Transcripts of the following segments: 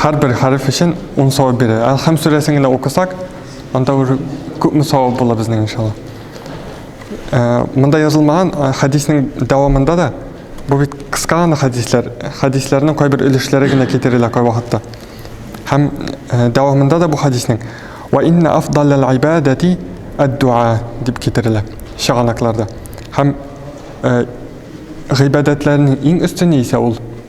һәрбер хәреф өчен 10 савап бирә. Әл-Хәм сүрәсен генә укысак, анда уже күпме савап була безнең иншалла. Э, монда язылмаган э, хәдиснең дәвамында да бу бит кыска гына хәдисләр, хәдисләрнең кайбер өлешләре генә китерелә кай вакытта. Һәм э, дәвамында да бу хәдиснең ва инна афдалл ибадати ад-дуа дип китерелә чыганакларда. Һәм гыйбадәтләрнең иң өстене исә ул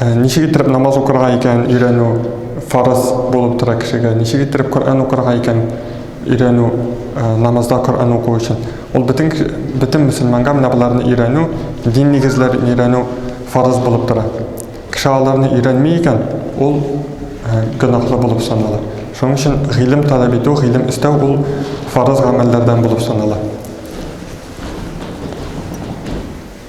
Э, ничек иттереп намаз укырга икән өйрәнү фарыз булып тора кешегә ничек иттереп коръән укырга икән өйрәнү э, намазда коръән уку өчен ул бөтен бөтен мөселманга менә боларны өйрәнү дин нигезләрен өйрәнү фарыз булып тора кеше аларны өйрәнми икән ул э, гөнаһлы булып санала шуның өчен гыйлем таләп итү гыйлем эстәү ул фарыз гамәлләрдән булып санала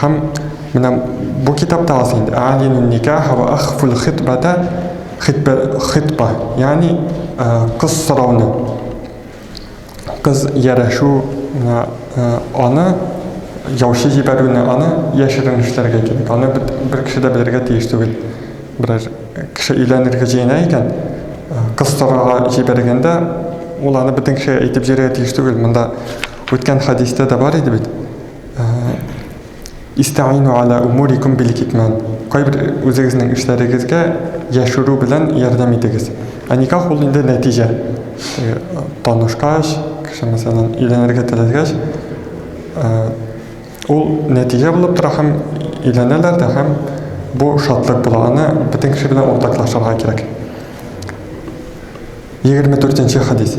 Һәм менә бу китапта алсаң инде, алин никаха ва ахфул хитбата хитбе хитба, ягъни кыз сорауны, кыз ярәшү аны яучы җибәрүне, аны яшерен эшләргә кирәк. Аны бер кеше дә белергә тиеш түгел. Берәр кеше өйләнергә җыена икән, кыз сорарга җибәргәндә, ул аны бөтен кешегә әйтеп җөрергә тиеш түгел. Монда үткән хәдистә дә бар иде бит. Истәгыйну аля умурикум бил китмән. Кайбер үзегезнең эшләрегезгә яшерү белән ярдәм итегез. Ә никах ул инде нәтиҗә. Э, танышкач, кеше мәсәлән өйләнергә теләгәч, э, ул нәтиҗә булып тора һәм өйләнәләр дә һәм бу шатлык була. Аны бөтен кеше белән уртаклашырга кирәк. 24 нче хадис.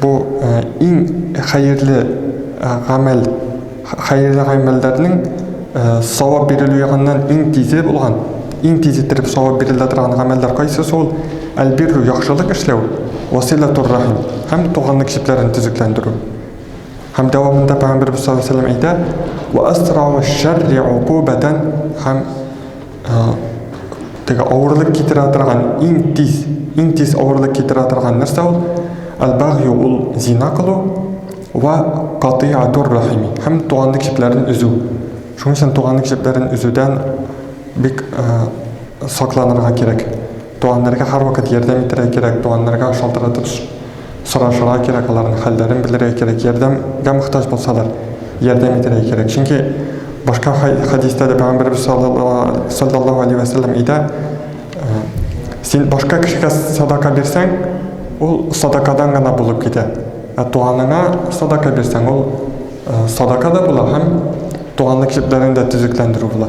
Бу иң хәерле гамәл, хәерле гамәлләрнең савап бирелү ягыннан иң тизе булган, иң тиз иттереп савап бирелә торган гамәлләр кайсысы ул? Әл-бирру, яхшылык эшләү, васыйләтур-рахим һәм туганлык җепләрен төзекләндерү. Һәм дәвамында Пәйгамбәребез саллаллаһу галәйһи ва сәлләм әйтә, Вә әсрагу шәрри укубәтән һәм теге авырлык китерә торган иң тиз иң тиз авырлык китерә торган нәрсә ул албагью ул зина кылу вә катыйатур рахими һәм туганлык җепләрен өзү шуның өчен туганлык җепләрен өзүдән бик сакланырга кирәк Туганнарга һәрвакыт ярдәм итәргә кирәк, туганнарга шалтыратып сорашырга кирәк, аларның хәлләрен белергә кирәк, ярдәмгә мохтаҗ булсалар, ярдәм итәргә кирәк. Чөнки башка хәдистә дә Пәйгамбәребез саллаллаһу алейһи вә сәлләм әйтә, син башка кешегә садака бирсәң, ул садакадан гына булып китә. Ә туганыңа садака бирсәң, ул садака да була һәм туганлык җепләрен дә төзекләндерү була.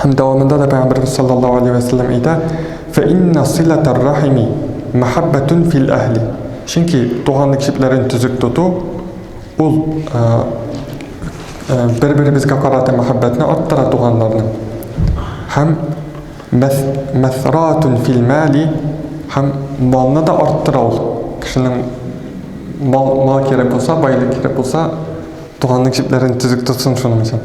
Һәм дәвамында да Пәйгамбәрбез саллаллаһу алейһи вә сәлләм әйтә, Фәинна сыйлатар рахими мәхәббәтүн фил әһли. Чөнки туганлык җепләрен төзек тоту, ул э, э, бер-беребезгә карата мәхәббәтне арттыра туганларның. Һәм мәсратун фил мәли һәм малны да арттыра ул. Кешенең мал, мал кирәк булса, байлык кирәк булса, туганлык җепләрен төзек тотсын шуның өчен.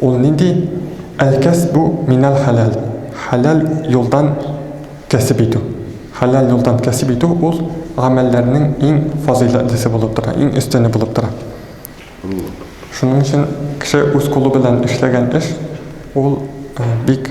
Ул нинди әлкәс бу минәл хәләл, хәләл юлдан кәсеп итү. Хәләл юлдан кәсеп итү ул гамәлләрнең иң фазыйләтлесе булып тора, иң өстене булып тора. Шуның өчен кеше үз кулы белән эшләгән эш ул бик